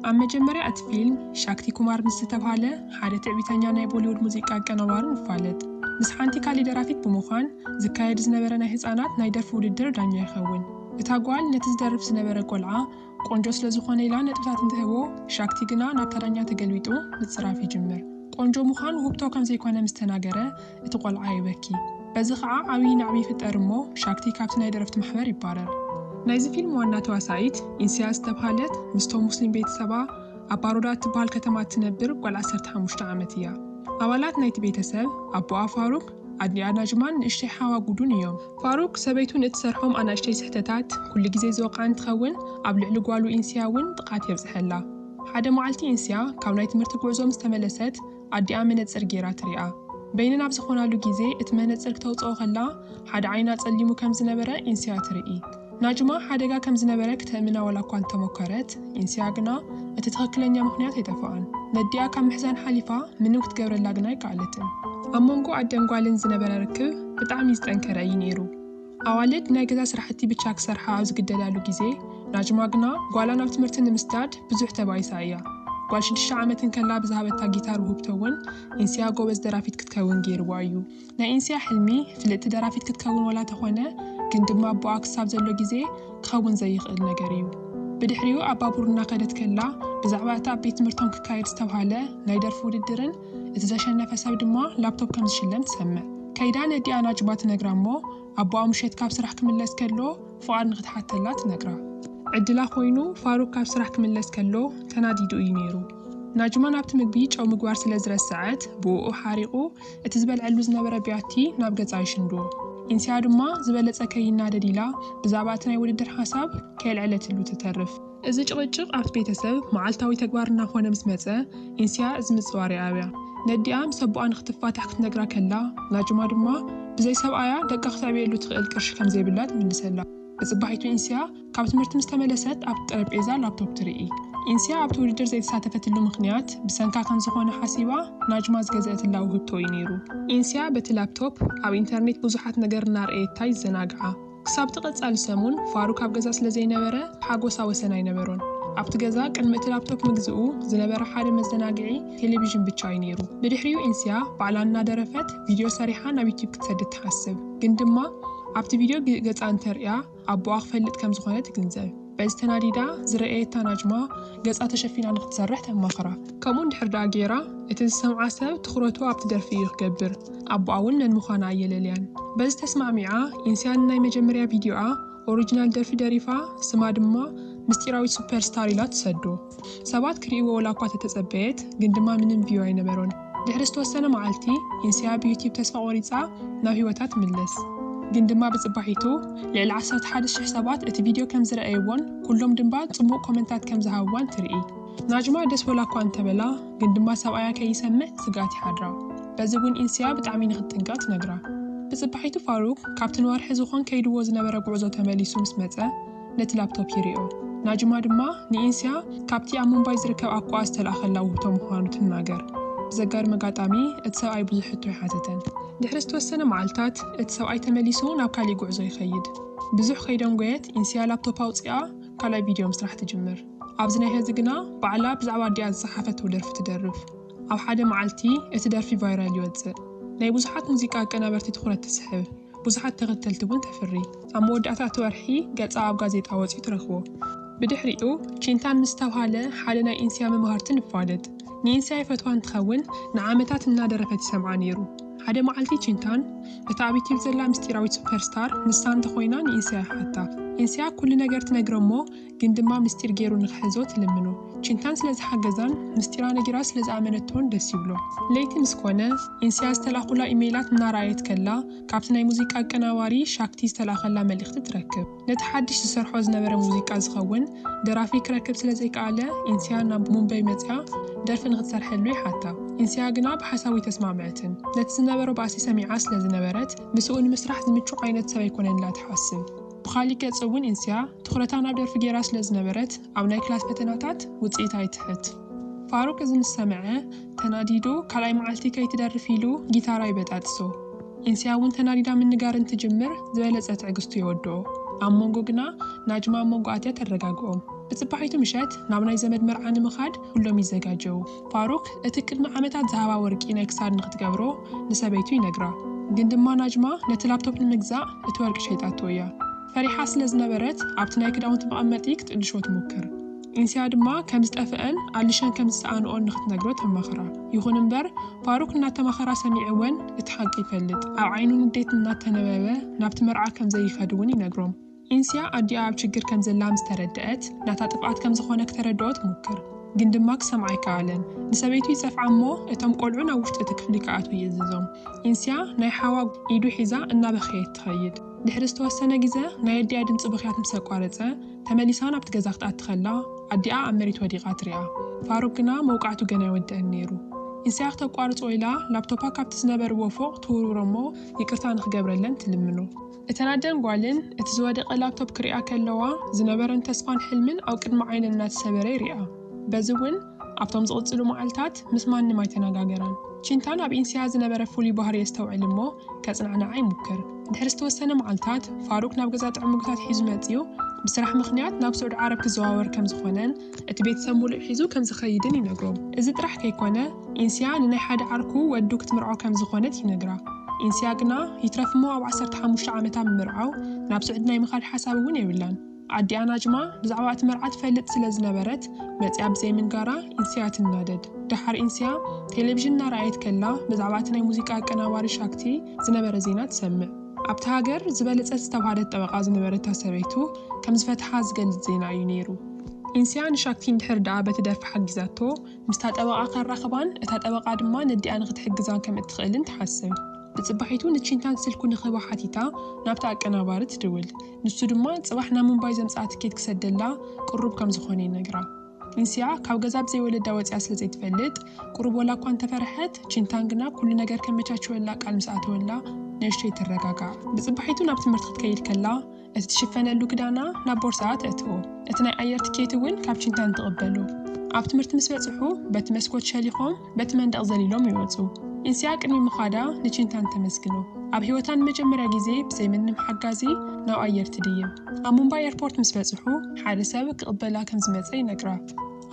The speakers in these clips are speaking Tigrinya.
ኣብ መጀመርያ እቲ ፊልም፣ ሻክቲ ኩማር ምስ ዝተብሃለ ሓደ ትዕቢተኛ ናይ ቦሊዉድ ሙዚቃ ኣቀናባሪ ንፋለጥ። ምስ ሓንቲ ካልእ ደራፊት ብምዃን፣ ዝካየድ ዝነበረ ናይ ህጻናት ናይ ደርፊ ውድድር ዳኛ ይኸውን። እታ ጓል ነቲ ዝደርፍ ዝነበረ ቆልዓ ቆንጆ ስለ ዝኾነ ኢላ ነጥብታት እንትህቦ፣ ሻክቲ ግና ናብታ ዳኛ ተገልቢጡ ምጽራፍ ይጅምር። ቆንጆ ምዃን ውህብቶ ከም ዘይኮነ ምስ ተናገረ፣ እቲ ቆልዓ የበኪ። በዚ ከኣ ዓብዪ ናዕቢ ይፍጠር እሞ ሻክቲ ካብቲ ናይ ደረፍቲ ማሕበር ይባረር። ናይዚ ፊልም ዋና ተዋሳኢት ኢንስያ ዝተብሃለት ምስቶም ሙስሊም ቤተሰባ ኣብ ባሮዳ እትብሃል ከተማ እትነብር ጓል ዓሰርተ ሓሙሽተ ዓመት እያ። ኣባላት ናይቲ ቤተሰብ ኣቦኣ ፋሩክ፣ ኣዲኣ ናጅማን ንእሽተይ ሓዋ ጉዱን እዮም። ፋሩክ ሰበይቱ ንእትሰርሖም ኣናእሽተይ ስሕተታት ኩሉ ግዜ ዝወቕዓ እንትኸውን ኣብ ልዕሊ ጓሉ ኢንስያ እውን ጥቕዓት የብፅሐላ። ሓደ መዓልቲ ኢንስያ ካብ ናይ ትምህርቲ ጉዕዞ ምስተመለሰት ኣዲኣ መነጽር ገይራ ትሪኣ። በይነን ኣብ ዝኾናሉ ግዜ እቲ መነጽር ክተውጽኦ ከላ ሓደ ዓይና ጸሊሙ ከም ዝነበረ ኢንስያ ትርኢ። ናጅማ ሓደጋ ከም ዝነበረ ክተእምና ዋላ እኳ እንተሞከረት፣ ኢንስያ ግና እቲ ትኽክለኛ ምኽንያት ኣይጠፍኣን። ነዲኣ ካብ ምሕዛን ሓሊፋ ምንም ክትገብረላ ግና ኣይከኣለትን። ኣብ መንጎ ኣደን ጓልን ዝነበረ ርክብ ብጣዕሚ ዝጠንከረ እዩ ነይሩ። ኣዋልድ ናይ ገዛ ስራሕቲ ብቻ ክሰርሓ ኣብ ዝግደዳሉ ግዜ፣ ናጅማ ግና ጓላ ናብ ትምህርቲ ንምስዳድ ብዙሕ ተባኢሳ እያ። ጓል ሽዱሽተ ዓመት እንከላ ብዝሃበታ ጊታር ውህብቶ እውን ኢንስያ ጎበዝ ደራፊት ክትከውን ገይርዋ እዩ። ናይ ኢንስያ ሕልሚ ፍልጥቲ ደራፊት ክትከውን ዋላ ተኾነ ግን ድማ ኣቦኣ ክሳብ ዘሎ ግዜ ክኸውን ዘይኽእል ነገር እዩ። ብድሕሪኡ ኣብ ባቡር እናኸደት ከላ ብዛዕባ እቲ ኣብ ቤት ትምህርቶም ክካየድ ዝተብሃለ ናይ ደርፊ ውድድርን እቲ ዘሸነፈ ሰብ ድማ ላፕቶፕ ከም ዝሽለም ትሰምዕ። ከይዳ ነዲኣ ናጅባ ትነግራ እሞ ኣቦኣ ምሸት ካብ ስራሕ ክምለስ ከሎ ፍቓድ ንኽትሓተላ ትነግራ። ዕድላ ኮይኑ ፋሩክ ካብ ስራሕ ክምለስ ከሎ ተናዲዱ እዩ ነይሩ። ናጅማ ናብቲ ምግቢ ጨው ምግባር ስለ ዝረሰዐት ብኡኡ ሓሪቑ እቲ ዝበልዐሉ ዝነበረ ቢያቲ ናብ ገጻ ይሽንድዎ። ኢንስያ ድማ ዝበለጸ ከይናደድ ኢላ ብዛዕባ እቲ ናይ ውድድር ሓሳብ ከየልዐለትሉ ትተርፍ። እዚ ጭቕጭቕ ኣብቲ ቤተሰብ መዓልታዊ ተግባር እናዀነ ምስ መጸ፣ ኢንስያ እዚ ምጽዋር የኣብያ። ነዲኣ ምስ ኣቦኣ ንኽትፋታሕ ክትነግራ ከላ፣ ናጁማ ድማ ብዘይ ሰብኣያ ደቃ ክተዕብየሉ እትኽእል ቅርሺ ከም ዘይብላ ትምልሰላ። ንጽባሒቱ ኢንስያ ካብ ትምህርቲ ምስ ተመለሰት ኣብቲ ጠረጴዛ ላፕቶፕ ትርኢ። ኢንስያ ኣብቲ ውድድር ዘይተሳተፈትሉ ምኽንያት ብሰንካ ከም ዝዀነ ሓሲባ ናጁማ ዝገዘኣትላ ውህብቶ እዩ ነይሩ። ኢንስያ በቲ ላፕቶፕ ኣብ ኢንተርኔት ብዙሓት ነገር እናርኣየታ ይዘናግዓ። ክሳብ'ቲ ቀጻሊ ሰሙን፣ ፋሩክ ኣብ ገዛ ስለ ዘይነበረ፣ ሓጐሳ ወሰን ኣይነበሮን። ኣብቲ ገዛ፣ ቅድሚ እቲ ላፕቶፕ ምግዝኡ፣ ዝነበረ ሓደ መዘናግዒ፣ ቴሌቪዥን ብቻ እዩ ነይሩ። ብድሕሪኡ ኢንስያ፣ ባዕላ እናደረፈት፣ ቪድዮ ሰሪሓ ናብ ዩትዩብ ክትሰድድ ትሓስብ። ግን ድማ፣ ኣብቲ ቪድዮ ገጻ እንተርእያ፣ ኣቦኣ ክፈልጥ ከም ዝዀነ ትግንዘብ። በዚ ተናዲዳ ዝረኣየታ ናጅማ ገጻ ተሸፊና ንኽትሰርሕ ተማኽራ። ከምኡ እንድሕር ደኣ ገይራ፣ እቲ ዝሰምዓ ሰብ ትኹረቱ ኣብቲ ደርፊ እዩ ክገብር። ኣቦኣ እውን መን ምዃና ኣየለልያን። በዚ ተስማዕሚዓ፣ ኢንስያ ንናይ መጀመርያ ቪድዮኣ ኦሪጅናል ደርፊ ደሪፋ፣ ስማ ድማ ምስጢራዊት ሱፐር ስታር ኢላ ትሰዶ። ሰባት ክርእይዎ ወላኳ ተተጸበየት ግን ድማ ምንም ቪው ኣይነበሮን ድሕሪ ዝተወሰነ መዓልቲ ኢንስያ ብዩቲብ ተስፋ ቆሪጻ ናብ ሂወታ ትምለስ ግን ድማ ብጽባሒቱ ልዕሊ ዓሰርተ ሓደ ሽሕ ሰባት እቲ ቪድዮ ከም ዝረኣይዎን ኩሎም ድንባ ጽቡቅ ኮመንታት ከም ዝሃብዋን ትርኢ። ናጅማ ደስ ወላኳ እንተበላ ግን ድማ ሰብኣያ ከይሰምዕ ስግኣት ይሓድራ በዚ ውን ኢንስያ ብጣዕሚ ንክትጥንቀቅ ትነግራ ብጽባሒቱ ፋሩክ ካብቲ ንወርሒ ዝኮን ከይድዎ ዝነበረ ጉዕዞ ተመሊሱ ምስ መጸ ነቲ ላፕቶፕ ይርእዮ። ናጅማ ድማ ንኢንስያ ካብቲ ኣብ ሙምባይ ዝርከብ ኣኮኣ ዝተላእከላ ውህብቶ ምዃኑ ትናገር። ብዘጋርም ኣጋጣሚ እቲ ሰብኣይ ብዙሕ ሕቶ ኣይሓተተን። ድሕሪ ዝተወሰነ መዓልታት እቲ ሰብኣይ ተመሊሱ ናብ ካሊእ ጉዕዞ ይኸይድ። ብዙሕ ከይደንጎየት ኢንስያ ላፕቶፓ ኣውጺኣ ካልኣይ ቪድዮ ምስራሕ ትጅምር። ኣብዚ ናይ ሐዚ ግና ባዕላ ብዛዕባ ኣዲኣ ዝጸሓፈቶ ደርፊ ትደርፍ። ኣብ ሓደ መዓልቲ እቲ ደርፊ ቫይራል ይወጽእ። ናይ ብዙሓት ሙዚቃ ኣቀናበርቲ ትኹረት ትስሕብ። ብዙሓት ተኸተልቲ እውን ተፍሪ። ኣብ መወዳእታ እቲ ወርሒ ገጻ ኣብ ጋዜጣ ወጺኡ ትረኽቦ። ብድሕሪኡ ቺንታን ምስ ዝተብሃለ ሓደ ናይ ኢንስያ መማህርቲ ንፋለጥ። ንኢንስያ ይፈትዋ እንትኸውን ንዓመታት እናደረፈት ይሰምዓ ነይሩ። ሓደ መዓልቲ ቺንታን እታ ኣብ ዩትዩብ ዘላ ምስጢራዊት ሱፐር ስታር ንሳ እንተኾይና ንኢንስያ ይሓታ። ኢንስያ ኩሉ ነገር ትነግሮ'ሞ ግን ድማ ምስጢር ጌሩ ንኽሕዞ ትልምኖ። ቺንታን ስለ ዝሓገዛን ምስጢራ ነጊራ ስለ ዝኣመነቶን ደስ ይብሎ። ለይቲ ምስ ኮነ፣ ኢንስያ ዝተላእኹላ ኢመይላት እናረኣየት ከላ፣ ካብቲ ናይ ሙዚቃ ኣቀናባሪ ሻክቲ ዝተላእኸላ መልእኽቲ ትረክብ። ነቲ ሓድሽ ዝሰርሖ ዝነበረ ሙዚቃ ዝኸውን ደራፊ ክረክብ ስለ ዘይከኣለ፣ ኢንስያ ናብ ሙምበይ መጺኣ ደርፊ ንኽትሰርሐሉ ይሓታ። ኢንስያ ግና ብሓሳቡ ኣይተስማዕመዐትን። ነቲ ዝነበሮ ባእሲ ሰሚዓ ስለ ዝነበረት፣ ምስኡ ንምስራሕ ዝምቹ ዓይነት ሰብ ኣይኮነን ኢላ ትሓስብ። ብኻሊእ ገፅ እውን ኢንስያ ትኹረታ ናብ ደርፊ ገይራ ስለ ዝነበረት ኣብ ናይ ክላስ ፈተናታት ውፅኢታ ይትሕት። ፋሩቅ እዚ ምስ ሰምዐ ተናዲዱ ካልኣይ መዓልቲ ከይትደርፍ ኢሉ ጊታራ ይበጣጥሶ። ኢንስያ እውን ተናዲዳ ምንጋር እንትጅምር ዝበለፀ ትዕግስቱ የወድኦ። ኣብ ሞንጎ ግና ናጅማ ኣብ ሞንጎ ኣትያ ተረጋግኦም። ብፅባሒቱ ምሸት ናብ ናይ ዘመድ መርዓ ንምኻድ ኩሎም ይዘጋጀዉ። ፋሩክ እቲ ቅድሚ ዓመታት ዝሃባ ወርቂ ናይ ክሳድ ንክትገብሮ ንሰበይቱ ይነግራ ግን ድማ ናጅማ ነቲ ላፕቶፕ ንምግዛእ እቲ ወርቂ ሸይጣቶ እያ ፈሪሓ ስለ ዝነበረት ኣብቲ ናይ ክዳውንቲ መቀመጢ ክትእልሾ ትሙክር ኢንስያ ድማ ከም ዝጠፈኣን ኣሊሸን ከም ዝሰኣንኦን ንክትነግሮ ተማኽራ ይኹን እምበር ፋሩክ እናተማኸራ ሰሚዑ ወን እቲ ሓቂ ይፈልጥ ኣብ ዓይኑ ንዴት እናተነበበ ናብቲ መርዓ ከም ዘይኸድ እውን ይነግሮም ዒንስያ ኣዲኣ ኣብ ችግር ከም ዘላ ምስ ተረደኣት፣ ናታ ጥፍኣት ከም ዝዀነ ክተረድኦ ትሙክር። ግን ድማ ክሰምዓ ኣይከኣለን። ንሰበይቱ ይጸፍዓ እሞ እቶም ቈልዑ ናብ ውሽጢ እቲ ክፍሊ ክኣትዉ ይእዝዞም። ዒንስያ ናይ ሓዋ ኢዱ ሒዛ እናበኸየት ትኸይድ። ድሕሪ ዝተወሰነ ግዘ ናይ ኣዲኣ ድምጺ ብኽያት ምስ ኣቋረጸ፣ ተመሊሳ ናብቲ ገዛ ክትኣቲ ከላ ኣዲኣ ኣብ መሬት ወዲቓ ትሪኣ። ፋሩግ ግና መውቃዕቱ ገና ኣይወድኣን ነይሩ። ዒንስያ ክተቋርጾ ኢላ ላፕቶፓ ካብቲ ዝነበርዎ ፎቕ ትውርውሮ እሞ ይቅርታ ንኽገብረለን ትልምኖ። እተን ኣደን ጓልን፣ እቲ ዝወደቐ ላፕቶፕ ክሪኣ ከለዋ ዝነበረን ተስፋን ሕልምን ኣብ ቅድሚ ዓይነን እናተሰበረ ይሪኣ። በዚ እውን ኣብቶም ዝቕፅሉ መዓልታት ምስ ማንም ኣይተነጋገራን። ቺንታን ኣብ ኢንሲያ ዝነበረ ፍሉይ ባህሪ የስተውዕል እሞ ከፅናዕንዓ ይሙክር። ድሕሪ ዝተወሰነ መዓልታት ፋሩክ ናብ ገዛ ጥዑም ምግብታት ሒዙ መፂኡ ብስራሕ ምኽንያት ናብ ስዑድ ዓረብ ክዘዋወር ከምዝኾነን እቲ ቤተሰብ ሙሉእ ሒዙ ከም ዝኸይድን ይነግሮም። እዚ ጥራሕ ከይኮነ ኢንስያ ንናይ ሓደ ዓርኩ ወዱ ክትምርዖ ከም ዝኾነት ይነግራ። ኢንስያ ግና ይትረፍ'ሞ ኣብ ዓሰርተ ሓሙሽተ ዓመታ ምምርዓው ናብ ስዑዲ ናይ ምኻድ ሓሳብ እውን የብላን። ኣዲኣ ናጅማ ብዛዕባ እቲ መርዓ ትፈልጥ ስለ ዝነበረት መፂኣ ብዘይምንጋራ ኢንስያ ትናደድ። ደሓር ኢንስያ ቴሌቪዥን እናረኣየት ከላ ብዛዕባ እቲ ናይ ሙዚቃ ኣቀናባሪ ሻክቲ ዝነበረ ዜና ትሰምዕ። ኣብታ ሃገር ዝበለጸት ዝተብሃለት ጠበቓ ዝነበረታ ሰበይቱ ከም ዝፈትሓ ዝገልጽ ዜና እዩ ነይሩ። ኢንስያ ንሻክቲ እንድሕር ደኣ በቲ ደርፊ ሓጊዛቶ፣ ምስታ ጠበቓ ከራኽባን እታ ጠበቓ ድማ ነዲኣ ንኽትሕግዛ ከም እትኽእልን ትሓስብ። ንጽባሒቱ ንቺንታን ስልኩ ንኽህባ ሓቲታ ናብቲ ኣቀናባሪ ትድውል። ንሱ ድማ ጽባሕ ናብ ሙምባይ ዘምጽኣ ትኬት ክሰደላ ቅሩብ ከም ዝዀነ ይነግራ። እንስያ ካብ ገዛ ብዘይ ወለዳ ወጺኣ ስለ ዘይትፈልጥ፣ ቁሩብ ወላ እኳ እንተ ፈርሐት፣ ቺንታን ግና ኩሉ ነገር ከመቻችወላ ቃል ምስ ኣተወላ፣ ንእሽተይ ትረጋጋእ። ብጽባሒቱ ናብ ትምህርቲ ክትከይድ ከላ፣ እቲ ትሽፈነሉ ክዳና ናብ ቦርሳኣ ተእትዎ። እቲ ናይ ኣየር ትኬት እውን ካብ ቺንታን ትቕበሎ። ኣብ ትምህርቲ ምስ በጽሑ፣ በቲ መስኮት ሸሊኾም፣ በቲ መንደቕ ዘሊሎም ይወጹ። ኢንሲያ ቅድሚ ምዃዳ ንቺንታን ተመስግኖ። ኣብ ህይወታ ንመጀመርያ ግዜ ብዘይ ምንም ሓጋዚ ናብ ኣየር ትድይብ። ኣብ ሙምባይ ኤርፖርት ምስ በጽሑ ሓደ ሰብ ክቕበላ ከም ዝመጸ ይነግራ።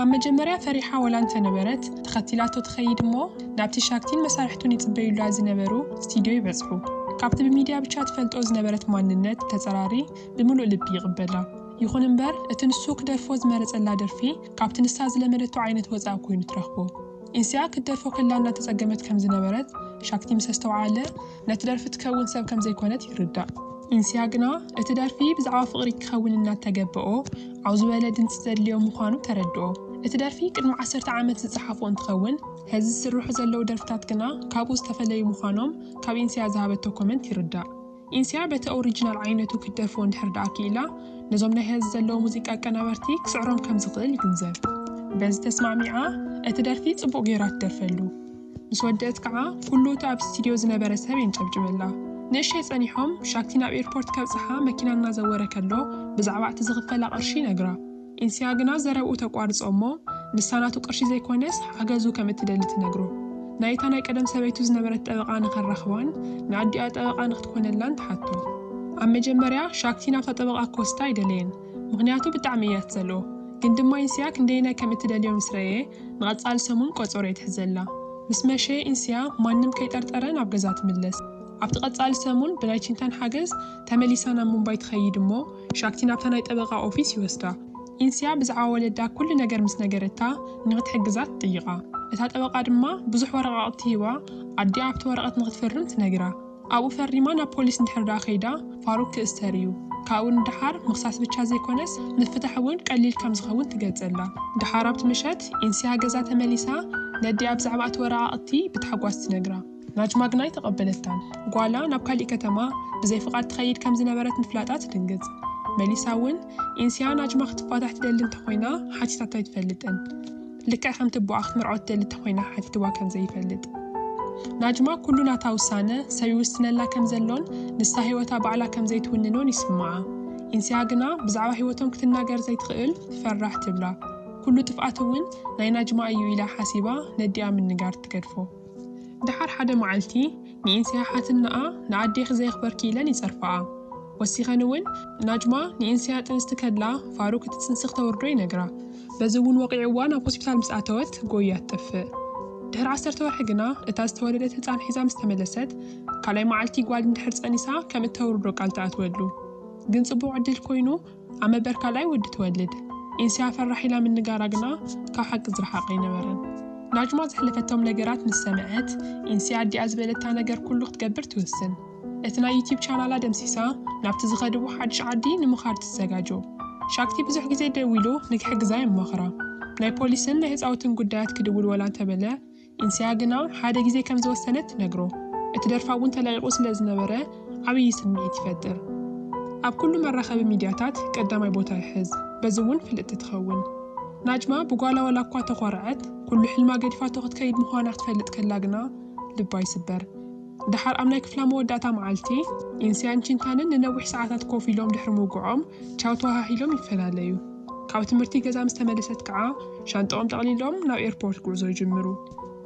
ኣብ መጀመርያ ፈሪሓ ወላ እንተነበረት ተኸቲላቶ ትኸይድ እሞ ናብቲ ሻክቲን መሳርሕቱን ይጽበዩላ ዝነበሩ ስቲድዮ ይበጽሑ። ካብቲ ብሚድያ ብቻ ትፈልጦ ዝነበረት ማንነት ተጸራሪ ብምሉእ ልቢ ይቕበላ። ይኹን እምበር እቲ ንሱ ክደርፎ ዝመረጸላ ደርፊ ካብቲ ንሳ ዝለመደቶ ዓይነት ወጻእ ኰይኑ ትረኽቦ። ኢንስያ ክትደርፎ ከላ እናተጸገመት ከም ዝነበረት ሻክቲ ምስ ኣስተውዓለ፣ ነቲ ደርፊ ትከውን ሰብ ከም ዘይኰነት ይርዳእ። ኢንስያ ግና እቲ ደርፊ ብዛዕባ ፍቕሪ ክኸውን እናተገበኦ ዓው ዝበለ ድምጺ ዘድልዮ ምዃኑ ተረድኦ። እቲ ደርፊ ቅድሚ ዓሰርተ ዓመት ዝጸሓፎ እንትኸውን፣ ሕዚ ዝስርሑ ዘለዉ ደርፍታት ግና ካብኡ ዝተፈለዩ ምዃኖም ካብ ኢንስያ ዝሃበቶ ኮመንት ይርዳእ። ኢንስያ በቲ ኦሪጅናል ዓይነቱ ክትደርፎ እንድሕር ድኣ ክኢላ ነዞም ናይ ሀዚ ዘለዉ ሙዚቃ ኣቀናበርቲ ክስዕሮም ከም ዝኽእል ይግንዘብ። በዚ ተስማዕሚዓ እቲ ደርፊ ጽቡቕ ገይራ ትደርፈሉ። ምስ ወደእት ከኣ ኩሉ እቲ ኣብ ስቲድዮ ዝነበረ ሰብ የንጨብጭበላ። ንእሸይ ጸኒሖም ሻክቲ ናብ ኤርፖርት ከብጽሓ መኪና እናዘወረ ከሎ ብዛዕባ'ቲ ዝኽፈላ ቅርሺ ይነግራ። ኢንስያ ግና ዘረብኡ ተቋርጾ እሞ ንሳ ናቱ ቅርሺ ዘይኮነስ ሓገዙ ከም እትደሊ ትነግሮ። ናይታ ናይ ቀደም ሰበይቱ ዝነበረት ጠበቓ ንኸራኽባን ንኣዲኣ ጠበቓ ንክትኮነላን ትሓቶ። ኣብ መጀመርያ ሻክቲ ናብታ ጠበቓ ክወስዳ ኣይደለየን ምኽንያቱ ብጣዕሚ እያ ትጸልኦ። ግን ድማ ኢንስያ ክንደየናይ ከም እትደልዮ ምስ ረእየ ንቐጻሊ ሰሙን ቆጸሮ ይትሕዘላ። ምስ መሸ ኢንስያ ማንም ከይጠርጠረ ናብ ገዛ ትምለስ። ኣብቲ ቀጻሊ ሰሙን ብናይ ቺንታን ሓገዝ ተመሊሳ ናብ ሙምባይ ትኸይድ እሞ፣ ሻክቲ ናብታ ናይ ጠበቓ ኦፊስ ይወስዳ። ኢንስያ ብዛዕባ ወለዳ ኩሉ ነገር ምስ ነገረታ ንኽትሕግዛ ትጥይቓ። እታ ጠበቓ ድማ ብዙሕ ወረቓቕቲ ሂባ ኣዲኣ ኣብቲ ወረቐት ንኽትፍርም ትነግራ። ኣብኡ ፈሪማ ናብ ፖሊስ እንድሕር ደኣ ከይዳ ፋሩክ ክእሰር እዩ። ካብኡ ንደሓር ምኽሳስ ብቻ ዘይኮነስ ምፍታሕ እውን ቀሊል ከም ዝኸውን ትገልጸላ። ደሓር ኣብቲ ምሸት ኢንስያ ገዛ ተመሊሳ ነዲኣ ብዛዕባ እቲ ወረቓቕቲ ብታሕጓስ ትነግራ። ናጅማግናይ ተቐበለታን ጓላ ናብ ካሊእ ከተማ ብዘይ ፍቓድ ትኸይድ ከም ዝነበረት ምፍላጣ ትድንግፅ። መሊሳ እውን ኢንስያ ናጅማ ክትፋታሕ ትደሊ እንተኾይና ሓቲታቶ ኣይትፈልጥን። ልክዕ ከምቲ ኣቦኣ ክትምርዖ ትደሊ እንተኾይና ሓቲትዋ ከም ዘይፈልጥ። ናጅማ ኩሉ ናታ ውሳነ ሰብ ይውስነላ ከም ዘሎን ንሳ ህይወታ ባዕላ ከም ዘይትውንኖን ይስምዓ። ኢንስያ ግና ብዛዕባ ህይወቶም ክትናገር ዘይትኽእል ፈራሕ ትብላ። ኩሉ ጥፍኣት እውን ናይ ናጅማ እዩ ኢላ ሓሲባ ነዲኣ ምንጋር ትገድፎ። ደሓር ሓደ መዓልቲ ንኢንስያ ሓትነኣ ንኣዴኺ ዘየኽበርኪ ኢለን ይጸርፋኣ። ወሲኸን እውን ናጅማ ንኢንስያ ጥንስቲ ከላ ፋሩክ እቲ ጽንሲ ክተውርዶ ይነግራ። በዚ እውን ወቒዕዋ ናብ ሆስፒታል ምስ ኣተወት ጎይያ ትጠፍእ። ድሕሪ ዓሰርተ ወርሒ ግና እታ ዝተወለደት ህጻን ሒዛ ምስ ተመለሰት ካልኣይ መዓልቲ ጓል እንድሕር ጸኒሳ ከም እተውርዶ ቃል ትኣትወሉ። ግን ጽቡቕ ዕድል ኮይኑ ኣመበርካላይ ወዲ ትወልድ ኤንስያ ፈራሕ ኢላ ምንጋራ ግና ካብ ሓቂ ዝረሓቐ ኣይነበረን። ናጅማ ዘሕለፈቶም ነገራት ምስ ሰምዐት ኤንስያ ኣዲኣ ዝበለታ ነገር ኩሉ ክትገብር ትውስን። እቲ ናይ ዩትዩብ ቻናላ ደምሲሳ ናብቲ ዝኸድዎ ሓድሽ ዓዲ ንምኻድ ትዘጋጆ። ሻክቲ ብዙሕ ግዜ ደዊሉ ንክሕግዛ የማኽራ። ናይ ፖሊስን ናይ ህፃውትን ጉዳያት ክድውል ወላ እንተበለ እንስያ ግና ሓደ ግዜ ከም ዝወሰነት ትነግሮ። እቲ ደርፋ እውን ተለቒቑ ስለ ዝነበረ ዓብዪ ስምዒት ይፈጥር። ኣብ ኩሉ መራኸቢ ሚድያታት ቀዳማይ ቦታ ይሕዝ፣ በዚ እውን ፍልጥቲ ትኸውን። ናጅማ ብጓላ ዋላ እኳ ተኾርዐት፣ ኩሉ ሕልማ ገዲፋቶ ክትከይድ ምዃና ክትፈልጥ ከላ ግና ልባ ይስበር። ደሓር ኣብ ናይ ክፍላ መወዳእታ መዓልቲ፣ ኢንስያን ቺንታንን ንነዊሕ ሰዓታት ኮፍ ኢሎም ድሕሪ ምውግዖም ቻው ተወሃሂሎም ይፈላለዩ። ካብ ትምህርቲ ገዛ ምስ ተመልሰት ከኣ ሻንጣኦም ጠቕሊሎም ናብ ኤርፖርት ጉዕዞ ይጅምሩ።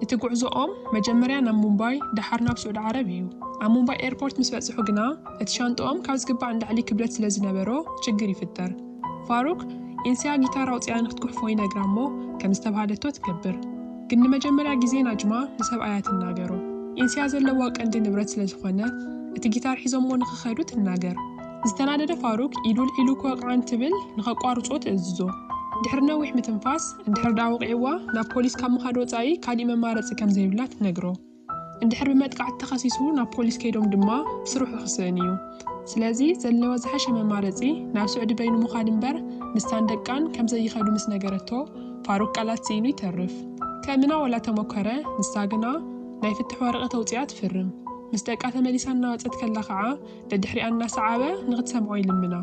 እቲ ጉዕዞኦም መጀመርያ ናብ ሙምባይ ደሓር ናብ ስዑዲ ዓረብ እዩ። ኣብ ሙምባይ ኤርፖርት ምስ በጽሑ ግና እቲ ሻንጣኦም ካብ ዝግባእ ንላዕሊ ክብደት ስለ ዝነበሮ ችግር ይፍጠር። ፋሩክ፣ ኢንስያ ጊታር ኣውጺኣ ንክትጉሕፎ ይነግራ እሞ ከም ዝተብሃለቶ ትገብር። ግን ንመጀመርያ ግዜ ናጅማ ንሰብኣያ ትናገሮ። ኢንስያ ዘለዋ ቀንዲ ንብረት ስለ ዝኾነ እቲ ጊታር ሒዞሞ ንክኸዱ ትናገር። ዝተናደደ ፋሩክ ኢዱ ኣልዒሉ ክወቕዓ እንትብል ንኸቋርጾ ትእዝዞ። ድሕሪ ነዊሕ ምትንፋስ፣ እንድሕር ድኣ ወቒዕዋ ናብ ፖሊስ ካብ ምኻድ ወጻኢ ካሊእ መማረጺ ከም ዘይብላ ትነግሮ። እንድሕር ብመጥቃዕቲ ተኸሲሱ ናብ ፖሊስ ከይዶም ድማ ስርሑ ክስእን እዩ። ስለዚ ዘለዋ ዝሓሸ መማረጺ ናብ ስዑዲ በይኑ ምዃድ እምበር ንሳን ደቃን ከም ዘይኸዱ ምስ ነገረቶ ፋሩክ ቃላት ስኢኑ ይተርፍ። ከእምና ወላ ተመኮረ፣ ንሳ ግና ናይ ፍትሕ ወረቐት ኣውጺኣ ትፍርም። ምስ ደቃ ተመሊሳ እናወጸት ከላ ከኣ ደድሕሪኣ እናሰዓበ ንኽትሰምዖ ይልምና።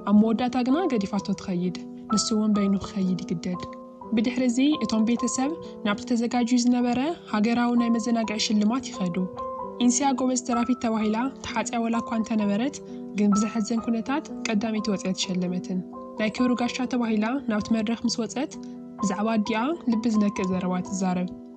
ኣብ መወዳእታ ግና ገዲፋቶ ትኸይድ፣ ንሱ'ውን በይኑ ክኸይድ ይግደድ። ብድሕሪ'ዚ እቶም ቤተሰብ ናብቲ ተዘጋጅዩ ዝነበረ ሃገራዊ ናይ መዘናግዒ ሽልማት ይኸዱ። ኢንስያ ጎበዝ ደራፊት ተባሂላ ተሓጽያ ዋላ'ኳ እንተነበረት ግን ብዘሕዝን ኩነታት ቀዳመይቲ ወጺኣ ኣይተሸለመትን። ናይ ክብሪ ጋሻ ተባሂላ ናብቲ መድረኽ ምስ ወጸት ብዛዕባ ኣዲኣ ልቢ ዝነክእ ዘረባ ትዛረብ።